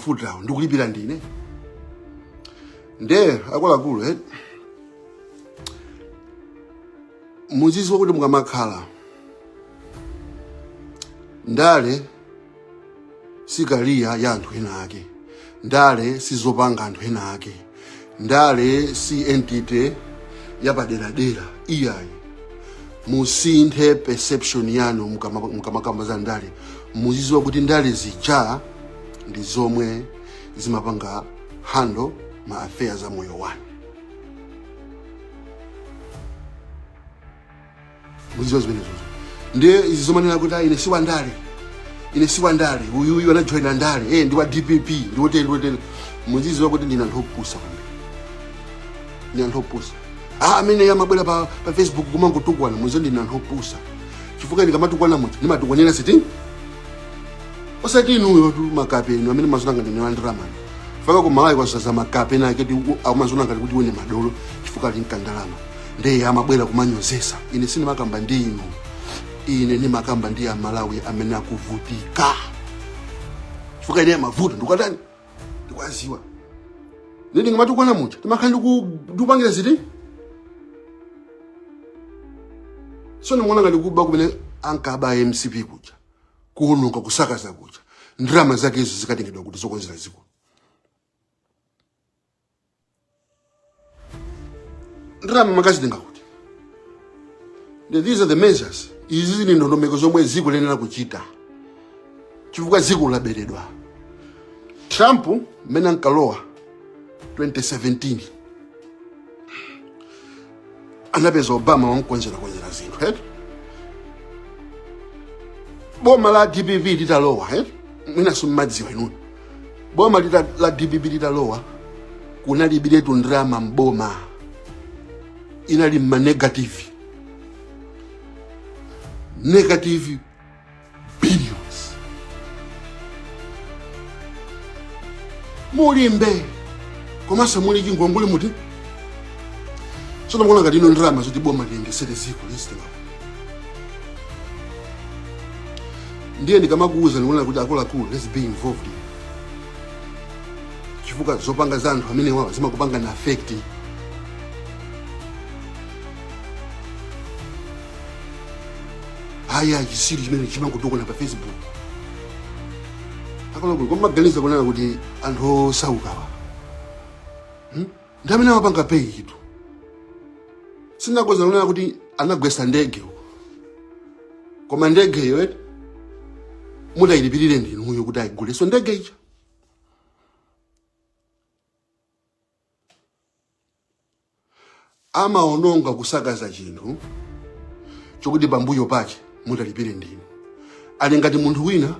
mafutawo ndikulipira ndine ndiye akuluakulu eh? muziziwa kuti mukamakhala ndale sikaliya ya anthu ena ake ndale sizopanga anthu ena ake ndale si entity yapaderadera iyayi musinthe perception yanu mukama- mukamakamba za ndale muziziwa kuti ndale zija ndi zomwe zimapanga handle ma affairs a moyo wanu muziziwa zimenezo ndiye izi zomanena kuti ayi ine si wandale ine si wandale uyuyu anajoyina ndale eh, ndi wa dpp ndi woteni ndi woteni muziziwa kuti ndinu anthu opusa kwambiri ndinu anthu opusa ah, amene amabwera pa, pa facebook kumangotukwana muziziwa ndinu anthu opusa chifukwa ndikamatukwana munthu ndimatukwanira ziti osati inuyo tu makape inu amene mumaziona ngati ni wandiramani faka ku malawi kwazaza makape nake oti amaziona ngati kuti ndi madolo chifukwa ali mkandalama ndiye amabwera kumanyozesa ine sindimakamba ndi inu ine ndimakamba ndi amalawi amene akuvutika chifukwa ine mavuto ndikuwatani ndikuwaziwa ine ndikamatukwana muja ndimakhala ndikupangira ziti tsono mukuona ngati kuba kumene ankaba mcp kuja kuononga kusakaza kuja ndalama zake izo zikatengedwa kuti zokonzera ziko ndalama mukazitenga kuti Ndi- these are the measures izi ndi ndondomeko zomwe ziko liyenera kuchita chifukwa ziko laberedwa trump mmene ankalowa 2017 anapeza obama wamkonzerakonzera zinthu eti boma la dpp litalowa eti mwinanso simumadziwa inuyo boma lita, la dpp litalowa kunalibiretu ndrama mboma inali mmanegative negative billions mulibe komanso muli chingongole muti tsono mukuona ngati inu ndalama zoti boma liyendesere ziko lizitengapo ndiye ndikamakuuza ndikunena kuti akuluakulu let's be involved chifukwa zopanga za anthu amene wawa zimakupangani affect hayi ayi chitsiru chimene chimangotukwana pa facebook akuluakulu kumaganiza kunena kuti anthu osaukawa hmm? ndi amene amapanga pay tu sindinakuuzani kunena kuti anagwetsa ndege uko. koma ndegeyo eti mutayilipirire ndinuyo kuti ayigulenso ndege ija amaononga kusakaza zinthu zokuti pambuyo pake mutalipire ndinu ali ngati munthu wina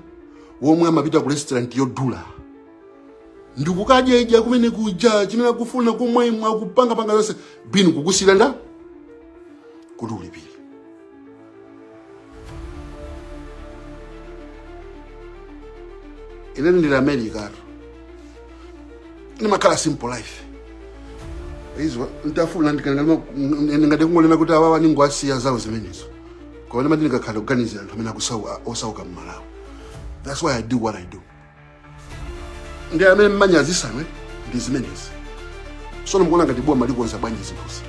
uja yemwe amapita ku restaurant yodula ndikukadya idya kumene kuja chimene akufuna kumwaimwa kupanga panga zonse bill kukusiyira ndi kuti ulipire ine ndili america atu ndimakhala simple life easy ntafuna ndingati kungolema kuti awawa ningowasiya zawo zimenezo koma ndimati ndikakhala kuganizira anthu amene akusa- osauka mmalawi that's why i do what i do ndi amene mmanyazitsa inu ndi zimenezi sono mukuona ngati boma likonza bwanji zinthuzi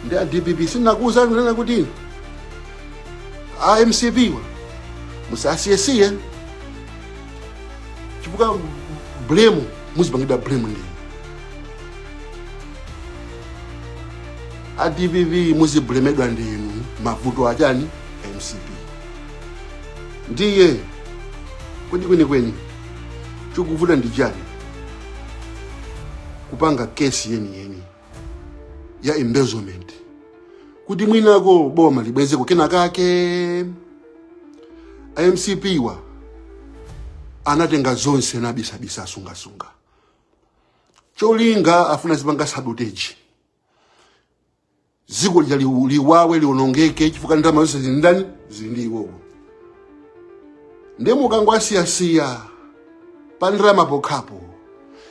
ndi a dpp sindinakuuzeni kunena kuti a mcp wa musasiyesiye chifukwa blame muzipangidwa blame ndi a dpp muziblemedwa ndi inu mavuto achani mcp Ndiye kodi kwenikweni chikuvuta ndi chani kupanga kesi yeniyeni ya embezzlement kuti mwinako boma libwezeko kena kake a mcp wa anatenga zonse ndi abisabisa asungasunga cholinga afuna azipanga sabotage dziko lija liu- liwawidwe lionongeke chifukwa ndalama zonse zili ndani zili ndi iwowo ndiye mukangowasiyasiya pa ndalama pokhapo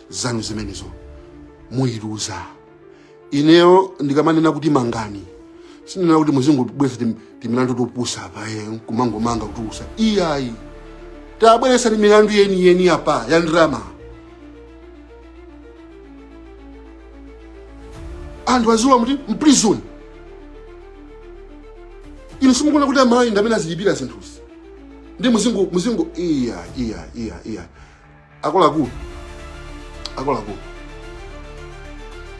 zanu zimenezo muyiluza ineyo ndikamanena kuti mangani sinena kuti muzingobweretsa tim- timilandu topusa apa eh, kumangomanga kupusa iyayi tabweretsani milandu yeniyeni apa ya ndalama anthu azilowa mu prison inu simukuona kuti amalawi ndi amene azilipira zinthuzi ndi muzingo muzingo iya iya iya iya akuluakulu akuluakulu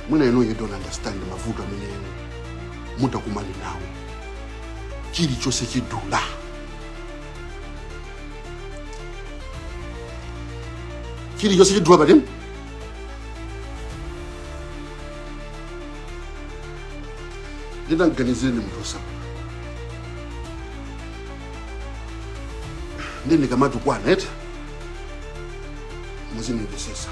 mwina inu you don't understand mavuto amene inu mutakumana nawo chilichonse chidula chilichonse chidula patini nde taganizireni munthu osauka nde ndikamatukwana eti muzindimvesesa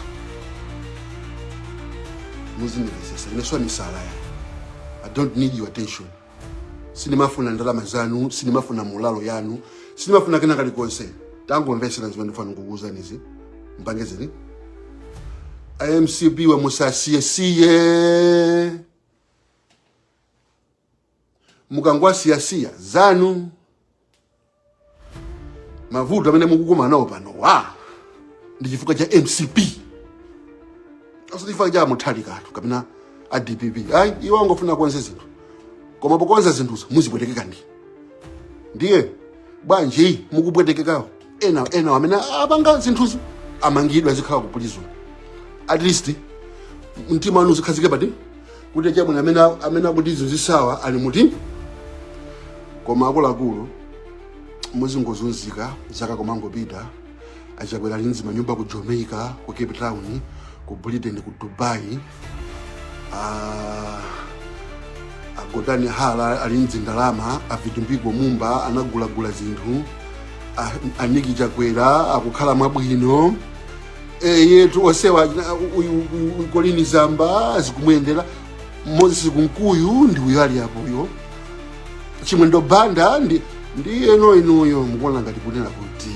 muzindimvesesa ine si wa misala ya i don't need your attention sindimafuna ndalama zanu sindimafuna mulalo yanu sindimafuna kena kalikonse tangomvesera zimene ndifuna kukuuzanizi mpange zili a mcp wa musasiyesiye mukangowasiyasiya zanu mavuto amene mukukumana nawo panowa ndi chifukwa cha mcp osati chifukwa cha a mutharikatu kapena a dpp ayi iwo angofuna kukonza zinthu koma pokonza zinthuzo muzipwetekeka ndi ndiye bwanji mukupwetekekawo ena ena amene apanga zinthuzo amangidwa azikhala ku prison at least mtima wanu uzikhazike pati kuti chabwino amene amene akutizunzisawa ali muti koma akuluakulu muzingozunzika zaka kumangopita achakwera ali ndi zimanyumba ku jamaica ku cape town ku britain ku dubai Ah, a gotani hara ali ndi zindalama a vitumbiko mumba anagulagula zinthu a- a nick chakwera akukhala mwabwino eyetu osewa colleen zamba zikumuyendera moses kunkuyu ndi uyo ali apoyo chimwendo banda ndi ndiyeno inuyo mukuona ngati kunena kuti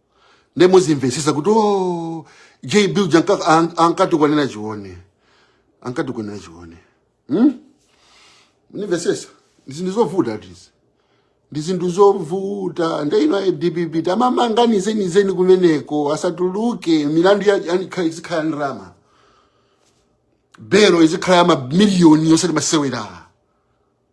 nde muzimvesesa kuti o jb uja anka- an- ankatukwanira chione ankatukwanira chione hmm? munimvesesa ndi zinthu zovutatu izi ndi zinthu zovuta nde inu a dpp tamamanganizeni kumeneko asatuluke milandu ya- ya- ikha- izikhala ndrama belo izikhala ya mamiliyoni yosati masewera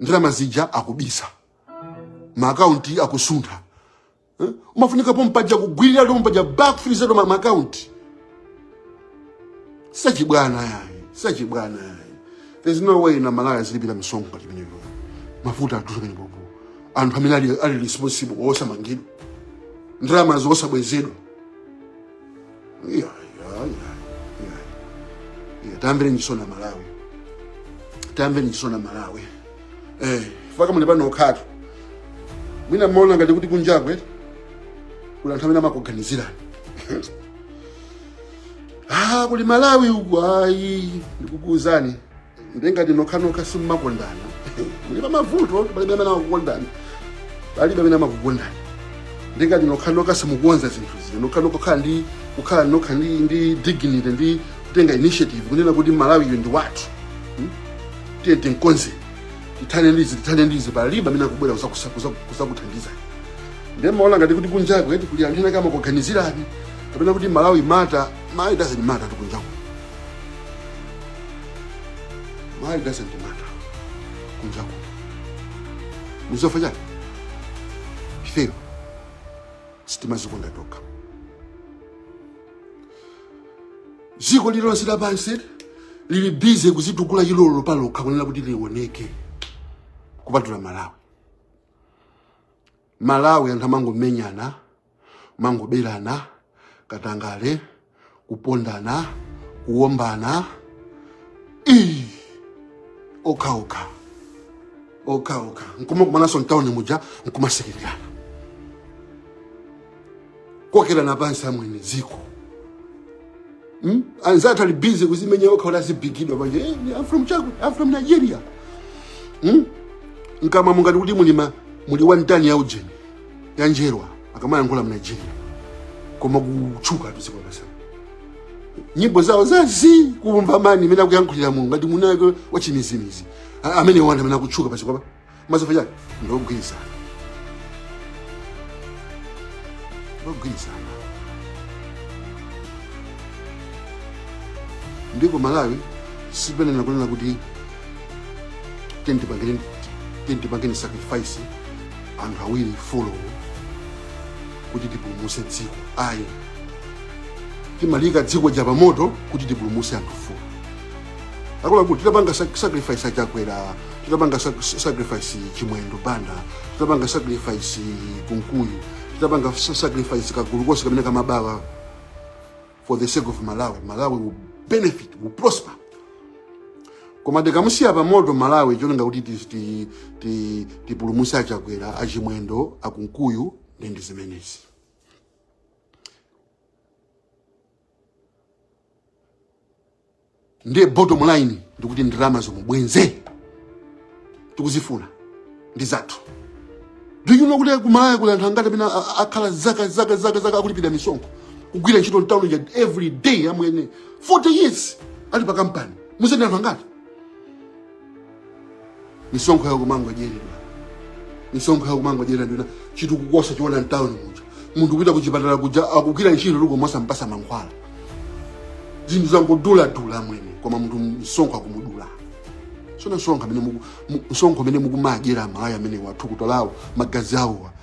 ndalama zija akubisa maakaunti akusuntha eh? umafunika pompaja kugwirira pompaja ba kufirizatu maakaunti sachibwana yayi sachibwana yayi there's no way amalawi azilipira misonkho ngati imeneyo mafuta atuso pene popo anthu amene ali, ali responsible osamangidwa ndalamazo osabwezedwa iya iya iya iya iya tamvereni chisoni amalawi tamvereni chisoni amalawi eh faka muli pano okhatu mwina mmaona ngati kuti kunjaku kuli anthu amene amakuganizirani ah kuli malawi uku ayi ndikukuuzani nde ngati nokhanokha simumakondana muli pamavuto palibe amene amakukondani palibe amene amakukondani ndi ngati nokhanokha simukukonza zinthu zino nokhanokha kukhala ndi kukhala nokha ndi ndi dignity ndi kutenga initiative kunena kuti malawi uyu ndi wathu Hmm? tiyeni tikonze tithane ndizi tithane ndizi palibe amene akubwera kuzakusa- kuza- kuzakuthandizani ndiye mumaona ngati kuti kunjako eti kuli anthu ena akumakuganizirani kapena kuti malawi matters malawi doesn't matter kunjako Malawi doesn't matter. Kunjako. Chifukwa chani? Ifeyo. Sitimazikonda tokha. Ziko lilonse lapansi lili busy kuzitukula chilolo palokha kunena kuti lioneke kupatula Malawi. Malawi anthu amangomenyana amangoberana katangale kupondana kuwombana ii okhaokha okhaokha nkumakumananso mtawuni muja nkumasekererana kukokerana pansi amwene dziko Hmm? anzathu ali busy kuzimenya okha kuti azibigidwa panja eh, I'm from chaku I'm from Nigeria hmm? mkamwamu ngati kuti muli ma muli one ton ya ujeni ya njerwa akamayankhula mu Nigeria koma kutchukatu dziko lapansi nyimbo zawo zosamveka man amene akuyankhulira mulungu ngati munako wachimizimizi A- amene wanda amene akutchuka pachikopa chifukwa chake ndogwirizana ndogwirizana dziko malawi simanena kunena kuti tiyeni tipangeni tiyeni tipangeni sacrifice anthu awiri folo kuti tipulumuse dziko ayi timaliika dziko lija pamoto kuti tipulumuse anthu folo akuluakulu titapanga sac- sacrifice achakwera titapanga sac- sacrifice chimwendo banda titapanga sacrifice kunkuyu titapanga sa- sacrifice kagulu konse kamene kamabawa for the sake of malawi malawi will benefit will prosper koma tikumusiya pamoto malawi cholinga kuti ti- ti- ti- tipulumutse achakwera achimwendo akunkuyu ndi ndi zimenezi ndiye bottom line ndikuti ndalama zomwe bwenze tikuzifuna ndi zathu do you know kuti kumalawi kuli anthu angati amene a- a- akhala zaka zaka zaka zaka akulipira misonkho kugwira ntchito mtawuni muja every day amwene 40 years ali pa kampani mudzeni anthu angati misonkho yawo kumangodyeredwa misonkho yawo kumangodyeredwa nde chitukuko osachiona mtawuni muja munthu kupita kuchipatala kuja akugwira ntchito rukuru osampasa mankhwala zinthu zangoduladula mwene koma munthu msonkho akumudula so msonkho amene muku- mu- msonkho amene mukumadyera amalawi amenewa thukuta lawo magazi awowa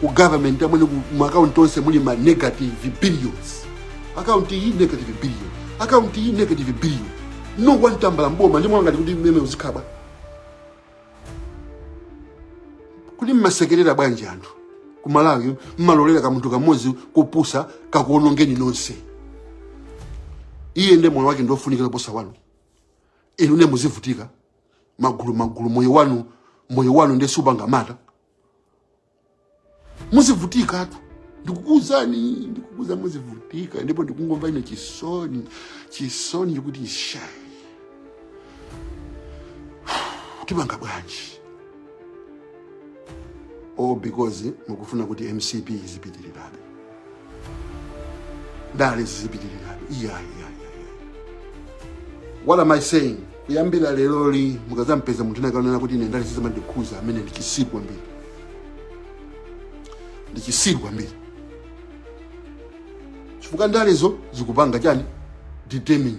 ku government ameneku mu account onse muli ma negative billions account iyi negative billion account iyi negative billion olo one tambala mboma ndi momwe ngati kuti mmene uzikhala kuti mmasekerera bwanji anthu ku malawi mmalolera kamunthu kamodzi kopusa kakuonongeni nonse iye nde moyo wake ndiofunikira posa wanu inu ne muzivutika magulu magulu moyo wanu moyo wanu nde supanga matter muzivutikatu ndikukuuzani ndikukuuza muzivutika ndipo ndikungomva ine chisoni chisoni chikuti isha tipanga bwanji all because mukufuna kuti mcp izipitirirabe ndale zizipitirirabe iyayi iyayi iyayi. what am i saying kuyambira leroli mukazampeza munthu wina akunena kuti ine ndale sizimandikhuza ameneyo ndi chisiru kwambiri ndi chisiru kwambiri chifukwa ndalezo zikupanga chani determine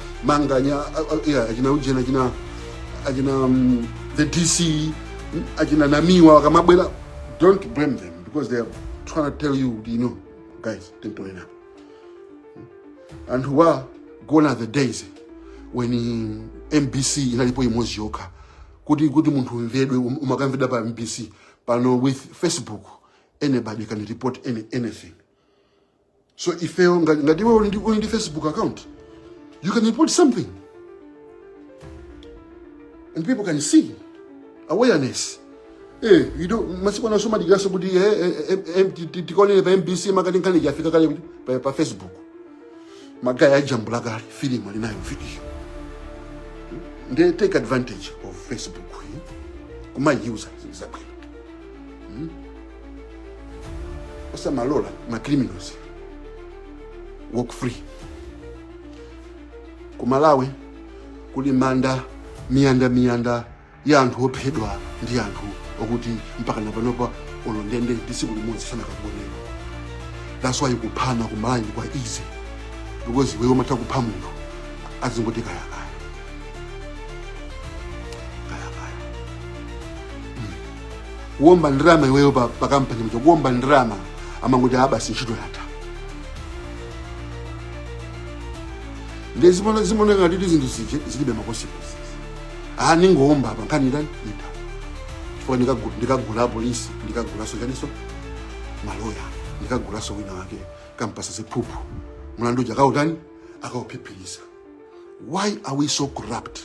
manganya a- a- yeah, achina ujeni achina achina um, the dc mm, achina namiwa akamabwera don't blame them because they are trying to tell you you know guys tintonena anthuwa gone are the days when eh, mbc inalipo imodzi yokha kuti kuti munthu umvedwe um- umakamvedwa pa mbc pano with facebook anybody can report any, anything so ifeyo nga- ngati iwe uli ndi uli ndi facebook account you can report something and people can see awareness Eh, you know, masiku ano somadikiraso kuti eh, eh, eh, eh, ti- ti- tikaonere pa mbc mwakuti nkhani yafika kale kuti pa- pa facebook magaya ajambula kale filimu ali nayo video nde take advantage of facebook eh? kumayiuza zabwino osamalola ma criminals walk free ku malawi kuli manda miyanda miyanda ya anthu ophedwa ndi anthu okuti mpaka napanopa olo ndende ya tsiku limodzi sanakaionere that's why kuphana ku malawi kwa easy because iweyo umatha kupha munthu azingoti kayakaya kuomba ndalama iweyo pa, pa kampani mto kuomba ndalama amangoti abasi ntchito yatha nde zimona- zimoneka ngati kuti zinthu zije zilibe makonsekensi aha ningoomba apa nkhani itani ita chifukwa ndikagu- ndikagula apolisi ndikagulaso chaninso maloya ndikagulanso wina wake kumpasa ziphuphu mlandu uja akautani akauphiphiritsa why are we so corrupt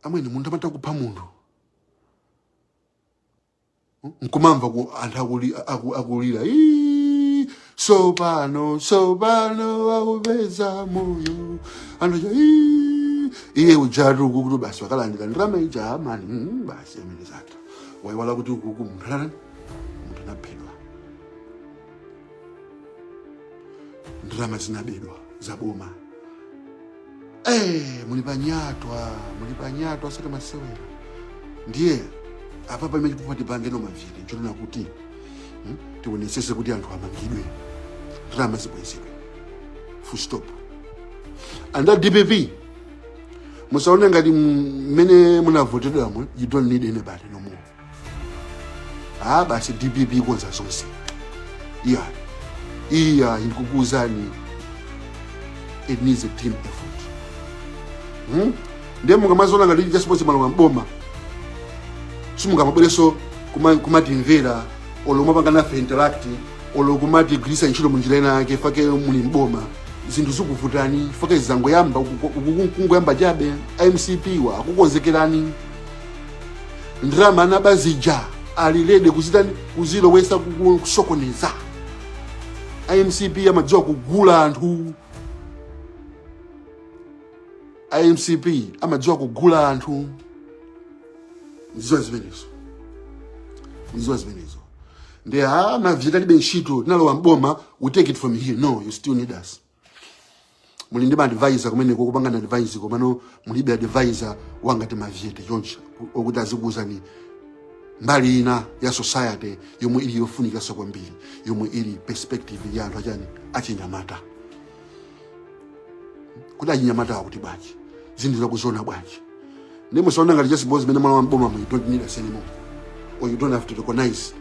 amwene munthu amatha kupha munthu nkumamva kuti anthu akuli- aku- akulira "Ii, sopano sopano akupeza moyo anthu aja "Ii." iye ujatu akuti basi wakalandira ndalama ija amani mm, basi amwene zatha waiwala kuti ukuku munthu anani munthu anaphedwa ndalama zinabedwa za boma Eh, muli panyatwa muli panyatwa asati masewera ndiye apa pamene kupati tipangeno mavili nchonena kuti hmm, tionetsese kuti anthu amangidwe ndalama zibwezedwe full stop and that dpp musaone ngati mmene munavotedwamo you don't need anybody no more ah basi dpp ikonza zonse iya iya ikukuuzani it needs a team effort hmm? ndiye musamazione ngati just because mwalowa mboma simungamabwereso kuma- kumatimvera olo kumapanga nafe interact olo kumatigwirisa ntchito munjira ina yake chifukwa muli mboma zinthu zikuvutani chifukwa zangoyamba kungoyamba chabe mcp wa akukonzekerani ndalama anaba zija ali ready kuzitani kuzilowesa kuku- kusokoneza a mcp amadziwa kugula anthu a mcp amadziwa kugula anthu ndiziwa zimenezo ndiziwa zimenezo ndiye mavyete alibe ntchito tinalowa mboma we take it from here no you still need us muli ndi maadvisor kumeneko kupangana advise komano mulibe advisor wangati mavyete choncho okuti azikuwuzani mbali ina ya society yomwe ili yofunikanso kwambiri yomwe ili perspective ya anthu achani achinyamata kuti achinyamata akuti bwanji zinthu akuziona bwanji Ndiye musaone ngati just because mmene mwalowa mbomamu you don't need us anymore or you don't have to recognize.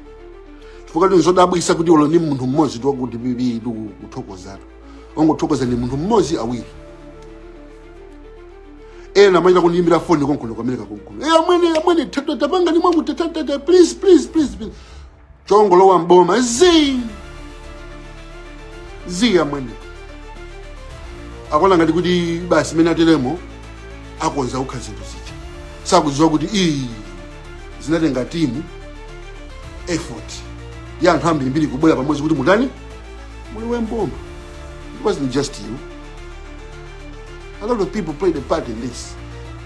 Chifukwa ndizodabwisa kuti olo ni munthu mmodzi wakuti dpp kuthokoza. Angothokoza ni munthu mmodzi awiri. Ena amachita kundiyimbira foni konkuno kwameneka konkuno. Eh amwene amwene tata tapanga ni mwangu tata tata please please please. please. chongolowa mboma zi zi amwene akuona ngati kuti basi mmene ateremo akonza okha zinthu zija sakudziwa kuti iyi zinatenga team effort ya anthu ambirimbiri kubwera pamodzi kuti mutani mulowe mboma it wasn't just you a lot of people played a part in this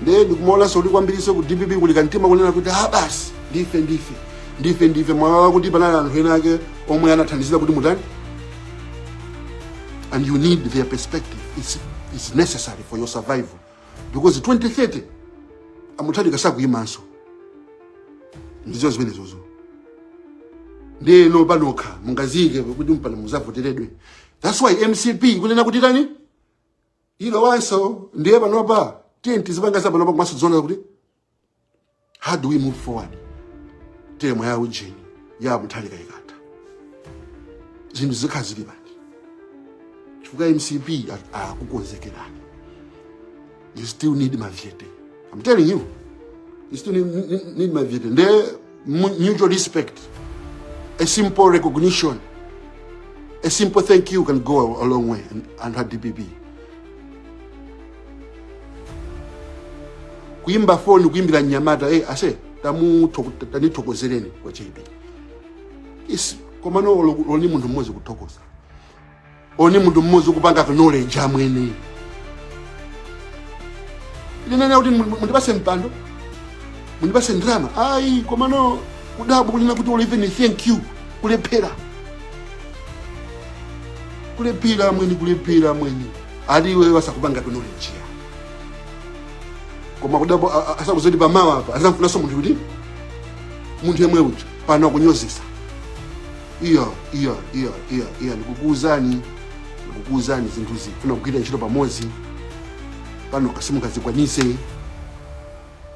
ndiye ndikumaonanso kuti kwambirinso ku dpp kuli kamtima kunena kuti ah basi ndife ndife ndife ndife mwaiwala kuti panali anthu ena ake omwe anathandizira kuti mutani and you need their perspective it's, it's necessary for your survival because 2030 a Mutharika sakuyimanso ndizo zimenezo ndeno panokha mungaziyike kuti mpaka muzavoteredwe that's why mcp ikunena kuti tani ilowanso ndiye panopa tiyeni tizipanga za panopa komanso tiziona kuti how do we move forward teremu ya ujeni ya mutharika ikatha zinthu zikhala zili bwanji chifukwa mcp a- akukonzekerani you still need mavyete i'm telling you you still need, need, need mavyete nde mutual respect, a simple recognition, a simple thank you can go a long way and, and her DPP. Kuimba phone, kuimbira nyamata, hey, ase, tamu, tani tokozereni kwa JB. Is, komano, loni mundu mmozi kutokoza. only munthu mmodzi kupanga acknowledge amwene sindikunena kuti mu- mundipase mpando mundipase ndrama ayi komano kudabwa kunena kuti olo even thank you kulephera kulephera amwene kulephera amwene ali iwe osakupanga acknowledge ya koma kudabwa a- a- osadziwa zoti pamawa apa azamufunaso munthu kuti munthu yemwe uja pano akunyozesa iya iya iya iya iya ndikukuuzani ndikukuuzani zinthu zifuna kugwira ntchito pamodzi pano nokha simungazikwanise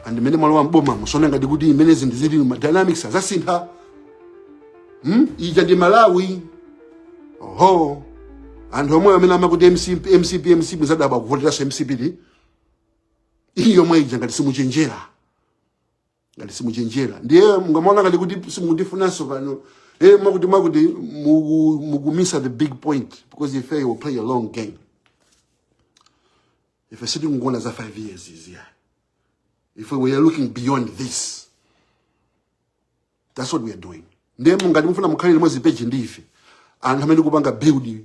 and mmene mwalowa mboma musaone ngati kuti mmene zinthu zili ma dynamics azasintha hmm? ija ndi malawi oho anthu omwe amene amati mcp mcp mcp muzadabwa kuvoteraso mcp iyo yomwe ija ngati simuchenjera ngati simuchenjera ndiye mungamaona ngati kuti simukundifunanso pano eh mmati mmati muku- mukumisa the big point because ife we play a long game ife sitikungoona za 5 years izi ya ife we are looking beyond this that's what we are doing ndiye ngati mufuna mukhale limodzi page ndi ife anthu amene tikupanga build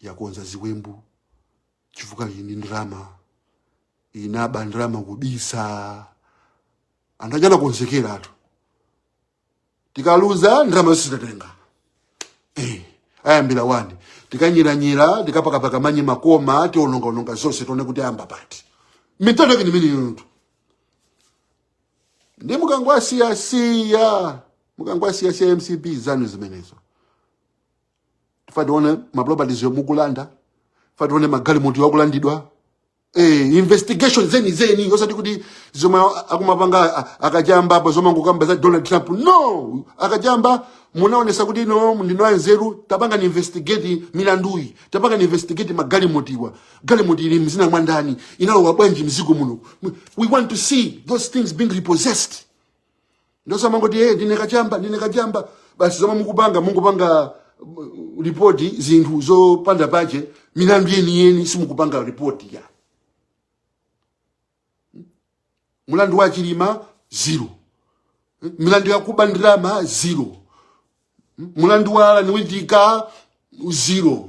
yakonza ziwembu chifukwa ili ndi ndalama inaba ndalama kubisa anthu aja anakonzekera atu tikaluza ndalama zose tatenga eh, ayambira wani tikanyiranyira tikapakapaka manyi makoma tionongaononga zonse tione kuti ayamba pati mitano yake nimene yontu ndi mukangwasiyasiya mukangwasiyasiya mcp zanu zimenezo tifa tione ma properties yo mukulanda tifa tione magalimoto yo akulandidwa eh, investigation zeni zeni osati kuti zomwe akumapanga a- akachamba apo zomwe angokamba za donald trump no akachamba munaonesa kuti no ndinu anzeru tapangani investigate milanduyi tapangani investigate magalimotiwa galimoti ili mzina mwa ndani inalowa bwanji mdziko muno we want to see those things being repossessed nde osamangoti hey, ndine kachamba ndine kachamba basi zomwe mukupanga mungopanga uh, ripoti zinthu zopanda pache milandu yeniyeni simukupanga ripoti ya mulandu wa chilima zero milandu yakuba ndalama zero mulandu wa allan witika zero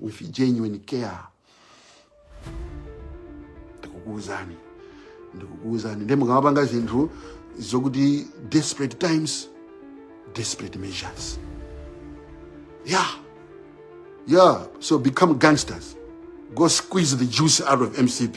with genuine care ndikukuuzani ndikukuuzani nde mukamapanga zinthu zokuti desperate times desperate measures yeah yeah so become gangsters go squeeze the juice out of mcp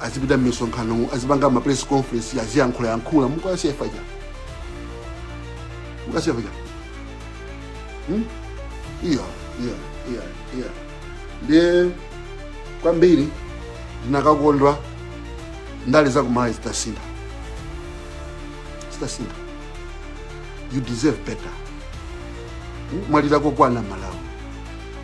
azipita m'misonkhano azipanga ma press conference aziyankhula yankhula mukasiya faja mukasiya faja hmm? iya iya iya iya ndiye kwambiri ndinakakondwa ndale za kumalawi zitasintha zitasintha you deserve better Hmm? mwalira kokwana malawi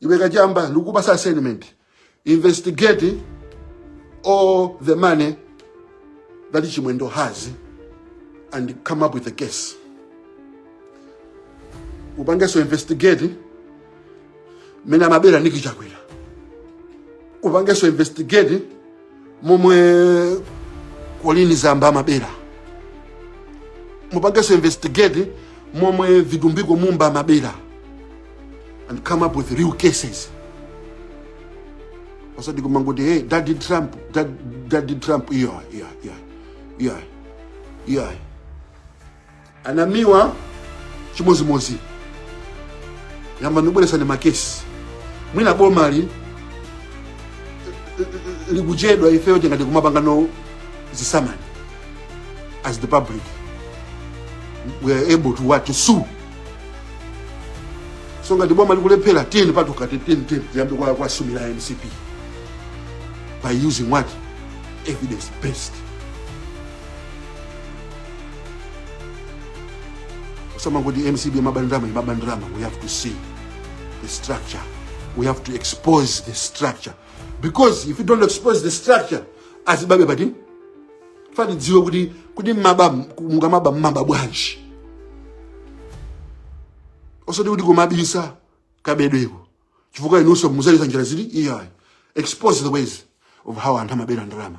iwe kachamba ndikupasa assignment investigate all the money that chimwendo has and come up with a case upangeso investigate mene amabera niki chakwera upangeso investigate momwe kolini zamba amabera mupangenso investigate momwe vitumbiko mumba amabera and come up with real cases osati kumangoti hey daddy trump dad, daddy trump iya iya iya iya iya anamiwa chimozimozi yambani kubweresano makesi mwina bomali likuchedwa ifeyo tingathe kumapangano zisamani as the public we are able to what to sue so ngati boma likulephera tiyeni patokha tiyeni tiyeni tiyambe kuwa kuwasumira a mcp by using what evidence based osamangoti mcp imaba ndalama imaba ndalama we have to see the structure we have to expose the structure because if you don't expose the structure azibabe but tifa tidziwe kuti kuti mmaba mukamaba mmaba bwanji osati kuti kumabisa kabedweko chifukwa inunso muzagwiritsa njira zili iyayi expose the ways of how anthu amabera ndalama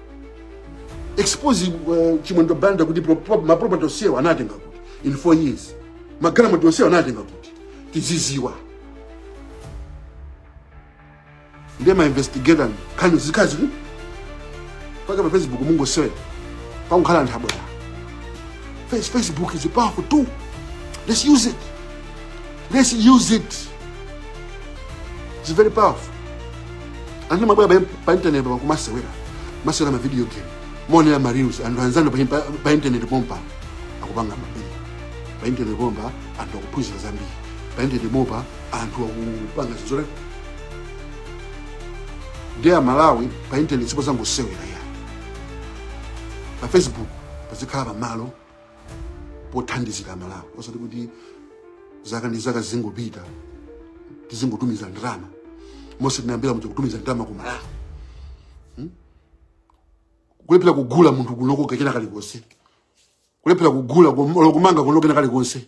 expose uh, chimwendo banda kuti pro- pro- maproperty onsewo anatenga kuti in four years magalimoto onsewo anatenga kuti tiziziwa ndiye mainvestigator nkhani zikazi kuti paka pa facebook mungosewera pakukhala nthabwala Face- facebook is a powerful tool let's use it Let's use it. It's very powerful. Anthu mabwera pa, pa internet pa kumasewera. Masewera ma video game. Maonera ma reels anthu anzanu pa, pa, pa internet pompa akupanga mabili. Pa internet pompa anthu akuphunzira zambiri. Pa internet pompa anthu akupanga zizore. Ndiye Malawi pa internet sipo zangosewera ya. Pa Facebook pazikhala pamalo pothandizira malawi osati kuti zaka ndi zaka zingopita tizingotumiza ndalama monse tinayambira muja kutumiza ndalama ku malawi hmm? kulephera kugula munthu kunoko kachena kalikonse kulephera kugula kum- olo kumanga kunoko kena kalikonse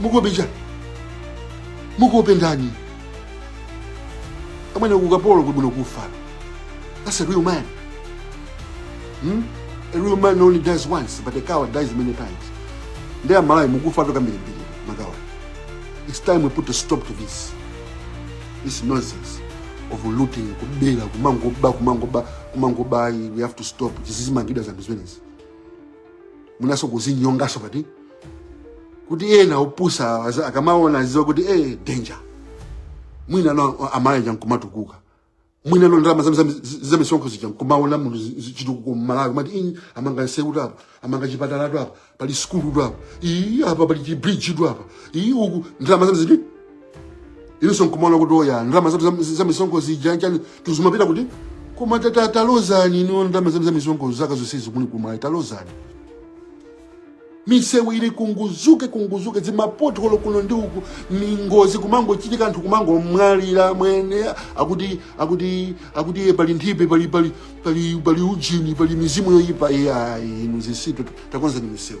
mukuopa chani mukuopa ndani amwene ukapolo kuli bwino kufa that's a real man hmm? a real man only dies once but a coward dies many times ndiye amalawi mukufa tu kambirimbiri ma coward it's time we put a stop to this this nonsense of looting kubera kumangoba kumangoba kumangoba we have to stop zizimangidwa zanthu zimenezi mwinaso kuzinyongaso pati kuti ena opusa aza- akamaona aziwa kuti eh danger mwina no amalawi nkumatukuka mwina no ndalama zam- zam- z- zamisonkho zija nkumaona munthu zi- zi- chitukuko mmalawi mati "Ii, amanga nsewu tu apa amanga chipatala tu apa pali sukulu tu apa iyi apa pali chibridge tu apa iyi uku ndalama zam- ziti inuso nkumaona kuti oya ndalama zathu za- za misonkho zija chani tu zimapita kuti koma tata talozani inu ndalama zanu za misonkho zaka zonsezi kuno kumalawi talozani misewu ili kunguzuke kunguzuke zimapotholo kuno ndi uku mingozi kumangochitika anthu kumangomwalira amwene akuti akuti akuti iye pali nthipe pali pali pali pali ujini pali mizimu yoyipa iyayi inu zitsiru takonzani misewu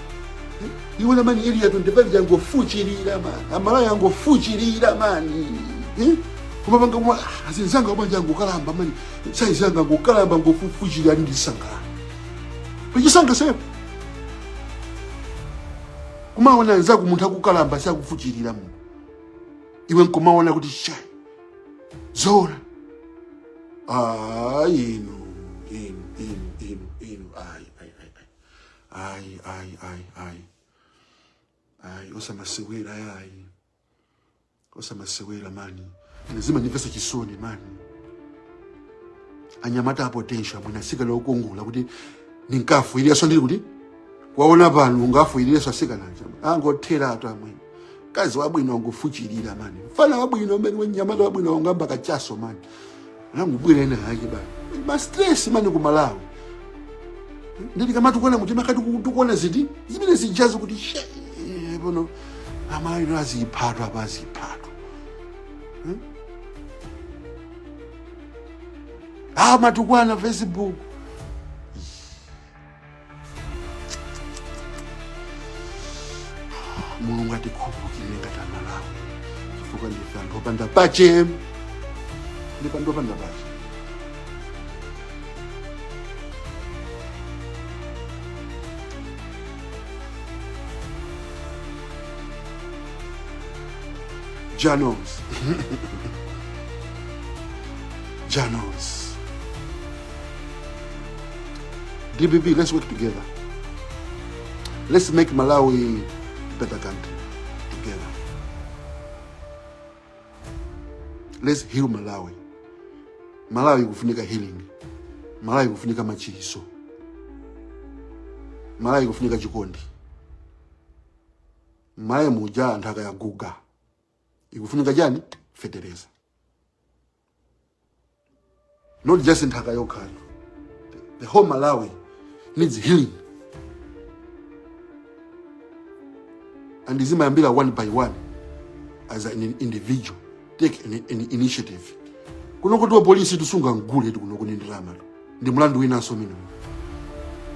iwe ona mani area 25 yangofuchirira mani amalawi yangofuchirira mani Eh? kumapanga koma azinzanga wabanja angokalamba mani saizanga angokalamba angofuchirira ali ndisangala pachisanga sepo kumaona anzako munthu akukalamba sakufuchirira mu iwe nkumaona kuti chai zora ah inu inu inu inu inu ayi ayi ayi ayi ayi ayi osamasewera ayi osamasewera mani ine zimandimvesa chisoni mani anyamata a potential mwina asikana okongola kuti ndinkafuireso ndiri kuti kwaona pano ungafuireso asikanaja angothera ato amwene kazi wabwino angofuchirira mani mfana wabwino amwene mnyamata wabwino angoyamba kachaso mani Nangubwira ena ake bana. Ma stress mani ku Malawi. Ndili kamatukwana mutima kati tikuona ziti zimene zijazo kuti she eh, pano amayi aziphatwa apa aziphatwa. Hmm? Ah matukwana Facebook. mulungu atikhululukire ngati amalawi chifukwa ndife anthu opanda pake ndife anthu opanda pake janos janos dpp let's work together let's make malawi better country together let's heal malawi malawi ikufunika healing malawi ikufunika machiso malawi ikufunika chikondi malawi muja nthaka yaguga ikufunika chani fetereza not just nthaka yokhayo the whole malawi needs healing ndi zimayambira one by one as an individual take an, an initiative kuno kuti wapolisi tisunga mgule tikunokoni ndalama ndi mlandu winanso umenewu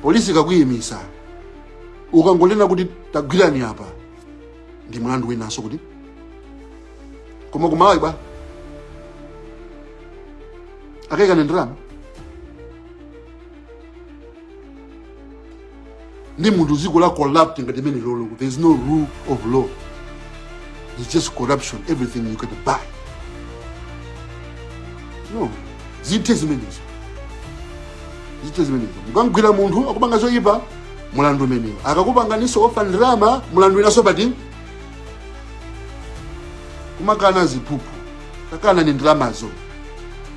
polisi ikakuyimisa ukangonena kuti tagwirani apa ndi mlandu winanso kuti koma kumalawi bwa akaikana ndalama ndi munthu dziko la corrupt ngati limenelolo there is no rule of law it's just corruption everything you can buy no zithe zimenezo zithe zimenezo mukamgwira munthu akupanga zoyipa mulandu umenewo akakupanganiso offer ndalama mulandu winaso pati kumakana ziphuphu takanani ndalamazo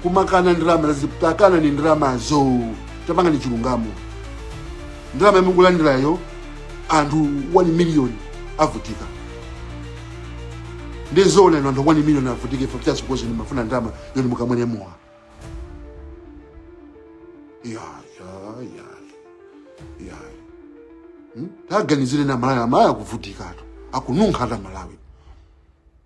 kumakana ndalama takanani ndalamazo tapangani chilungamo ndalama yomwe mukulandirayo anthu 1 million avutika ndi zoona anthu 1 million avutika for just because mumafuna ndalama yoti mukamwere mowa ya ya ya ya hmm? taganizirani amalawi amalawi akuvutikatu akununkhatu amalawi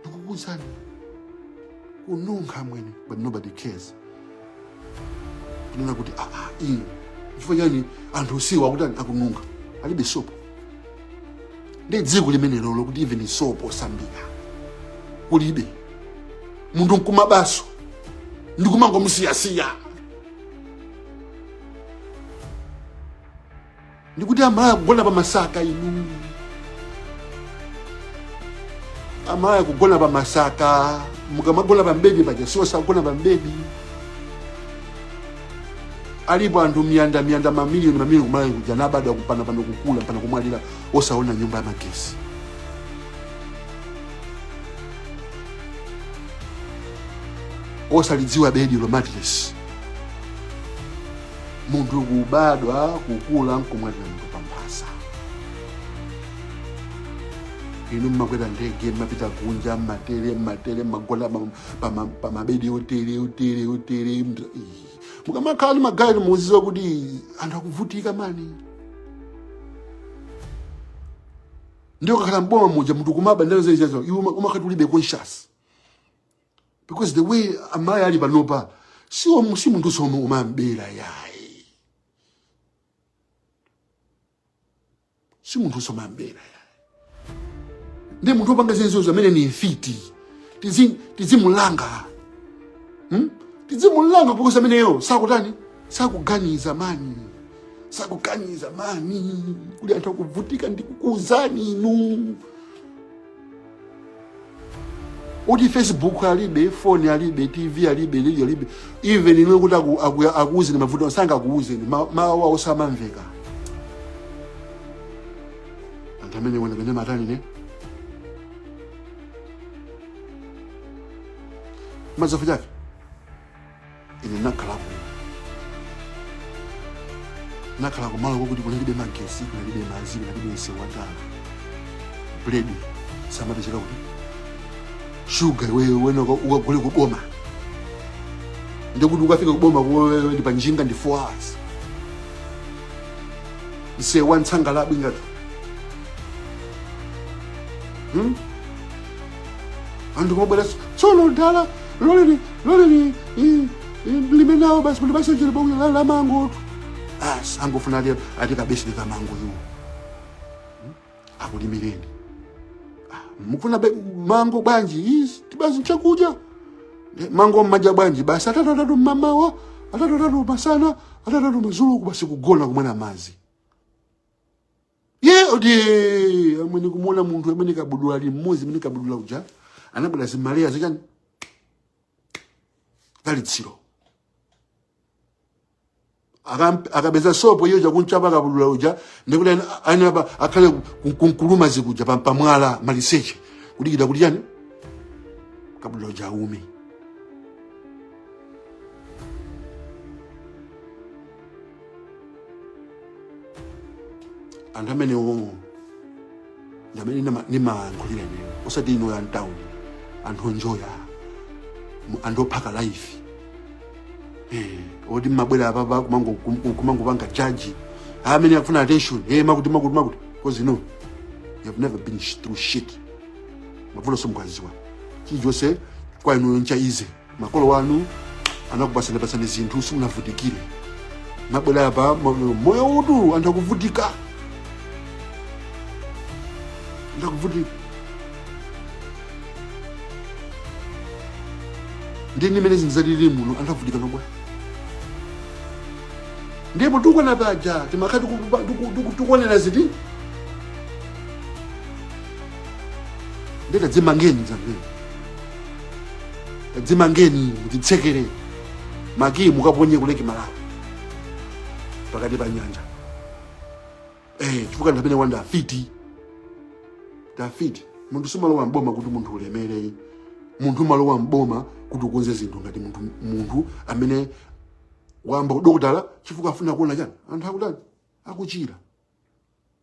ndikukuuzani kununkha mwene but nobody cares kunena kuti "Ah, ah, inu chifukwa chani anthu osiwa akutani akununkha alibe sopo ndi dziko limenelolo kuti even sopo wosambira kulibe munthu nkumabanso ndikumangomusiyasiya ndikuti amalaka kugona pa masaka inu amalaka kugona pa masaka mukamagona pa bedi paja si onse agona pa bedi alipo anthu miyanda miyanda mamiliyoni mamiliyoni kumalawi kuja anabadwa mpakana pano kukula mpakana kumwalira osaona nyumba ya magesi osalidziwa bedi la matresi munthu kubadwa kukula nkumwalira munthu pamphasa inu mmakwera ndege mmapita kunja mmatele mmatele mmagona pam- pama- pamabedi otele otele otele md- ii. mukamakhala ndi magalimoto muziziwa kuti anthu akuvutika mani ndiye ukakhala mboma muja munthu kumaba ndalama zezizo iwe umakhati ulibe conscious because the way Malawi alili panopa si om- si munthu zomwe umabera yayi si munthu zomwe amabera yayi ndi munthu opanga zimenezo ameneyo ndi mfiti Tizi- tizimulanga hmm? tizimulanga because ameneyo sakutani sakuganiza mani sakuganiza mani kuli anthu akuvutika ndikukuuzani inu kuti facebook alibe phone alibe tv alibe radio alibe even ine kuti aku- aku- akuuzeni mavuto awo sangakuuzeni ma- mawu awo samamveka anthu amene ndinenapo pena amatani ine madzulo chake ine ndinakhala kuno ndinakhala kumalo kwakuti kunalibe magesi kunalibe madzi kunalibe msewu wa tala buledi samapezeka kuti shuga iweyo wina uka- ukagule kuboma ndikuti ukafika kuboma kupita ndi panjinga ndi 4 hours msewu wa nsangalabwi ngati hmm? anthu kumabwera tsono dala loleni loleni limenelo basi muli basi chili bonge la mango basi angofuna ali ati kabeseni ka mango yu akulimireni Ah, mukufuna be- mango bwanji Ati, basi chakudya Eh, mango mmadya bwanji basi atatu atatu mmamawa atatu atatu masana atatu atatu madzulo basi kugona kumwera madzi ye oti amene kumuona munthu amene kabudula ali mmodzi amene kabudula uja anabwera zimalaya zichani kali litsiro Akam- akapeza sopo iyo kukamchapa kabudula uja ndikuti ayamba akhale kun- kunkuluma zikuja pa- pamwala maliseche kudikira kuti chani kabudula uja aume anthu amenewo ndi amene ndima- ndimayankhulira ineyo osati inu a m'town anthu onjoya moyo anthu ophaka life Eh, oti mmabwera apapa kumango- kum- kumangopanga jaji amene akufuna attention eh, makuti makuti makuti because you know you have never been sh- through shit mavuto simukuwadziwa chilichonse kwa inuyo ncha easy makolo wanu anakupasani pasani zinthu simunavutikire mabwera apa ma- moyo uwu anthu akuvutika anthu akuvutika ndi mmene zinthu zalili muno anthu avutika mmabwera ndiye tikuona paja timakhala tikuonera ziti ndiye tadzimangeni zambiri tadzimangeni inu mudzitsekere makiyi mukaponye ku Lake Malawi pakati pa nyanja eh chifukwa anthu amenewa nda afiti afiti munthu sumalowa mboma kuti munthu ulemere munthu umalowa mboma kuti ukonze zinthu ngati munthu munthu amene wayamba udokotala chifukwa afuna kuona chani anthu akutani akuchira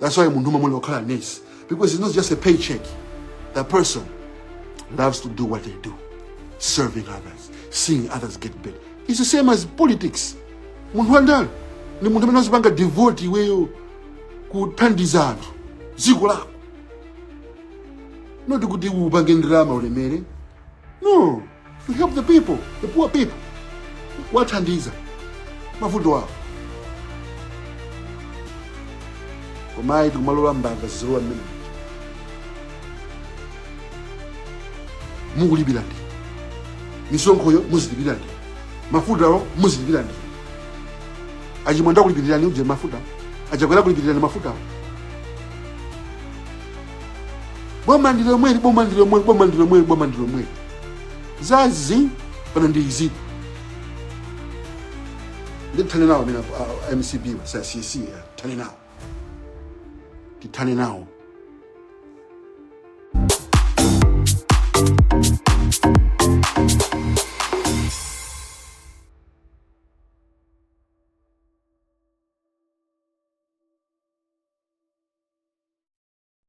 That's why munthu umayenera ukhale nesi because it's not just a paycheck. That person loves to do what they do, serving others, seeing others get better. It's the same as politics. Munthu wandale ndi munthu amene azipanga devote iweyo kuthandiza anthu dziko lako not kuti upange ndalama ulemere no To help the people, the poor people. Kuwathandiza mavuto awo. Koma ayi tikumalola mbava zizilowa mmenemuja. Mukulipira ndinu. Misonkhoyo muzilipira ndinu. Mafutawo muzilipira ndinu. A Chimwendo akulipirirani uje mafuta. A Chakwera akulipirirani mafutawo. Boma ndi lomweli, boma ndi lomweli, boma ndi lomweli, boma ndi lomweli. za zi pano ndi izi tithane nawo amene a- a MCP-wa sa cc ya, thane nawo tithane nawo